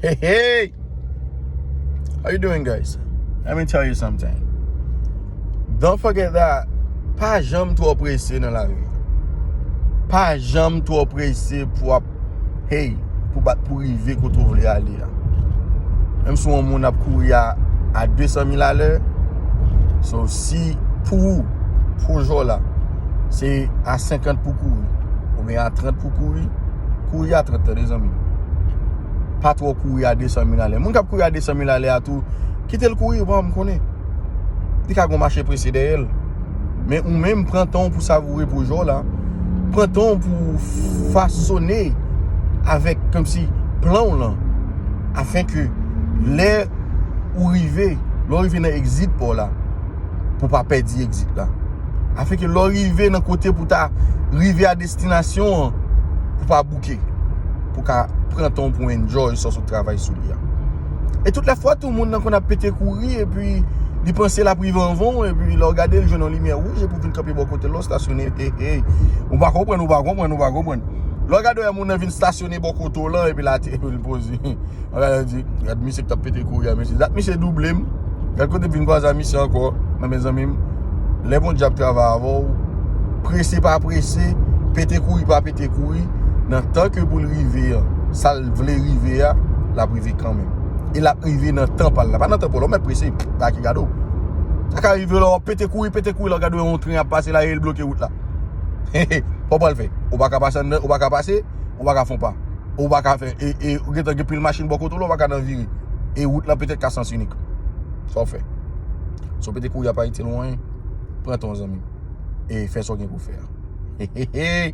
Hey hey How you doing guys Let me tell you something Don't forget that Pa janm twò prese nan lavi Pa janm twò prese pou ap Hey Pou bat pou rive kote ou vle ale a Menm si yon moun ap kouri a A 200 mil a lè So si Pou ou Pou jò la Se a 50 pou kouri Ou gen a 30 pou kouri, kouri a 30 tande zanmim. Pa tro kouri a 200 mil ale. Moun kap kouri a 200 mil ale a tou, kite l kouri van m konnen. Li ka gon mache prese dèyè l. Men ou menm pran tan w pou savoure pwojè w la. Pran tan w pou fasone avèk kèm si plan w lan. Afen ke lè ou rive, lè ou rive nan exit pa w la, pou pa pèdi exit la. Afen ke lè ou rive nan kote pou ta rive a 200. Destinasyon an pou pa bouke, pou ka pran tan w pou enjoy sa w sot travay sou li a. E tout la fwa tou moun nan konn ap pete kouri epi li panse l ap rive anvan w epi lè w gade l jwenn yon limyè wouj epi w vin kanpe bò kote l lè w stasyone ey ou pa konprann ou pa konprann ou pa konprann lè w gade w wè moun nan vin stasyone bò kote w lan epi l ateri l poze. Mwen gade l di, gad misye k t ap pete kouri a mesye. Dat misye double m. Gad kote m vin kwaze ak misye ankò. Nan mezanmi m, lè Bondye ap travay avè w, prese pa prese, pete kouri pa pete kouri, nan tan ke pou l rive an, sa l vle rive a, l ap rive kanmenm. E l ap rive nan tan pa l la. Pa nan tan pa w la. Ou mèt prese. Sa ki gade w. Sa ka rive lè w ap pete kouri, pete kouri la w gade yon tren ap pase la e l bloke wout la. Sa w pral fè? Ou pa ka pase anndan, ou pa ka pase, ou pa ka fon pa. Ou pa ka fè, e ou gentan gen pil machin bò kote w la, ou pa ka nan vire. E wout lan petèt ka sans inik. Sa w fè? Si w pete kouri ap Ayiti lwen, pran tan w zanmi m. E fè sa w gen pou fè a. Heheheh!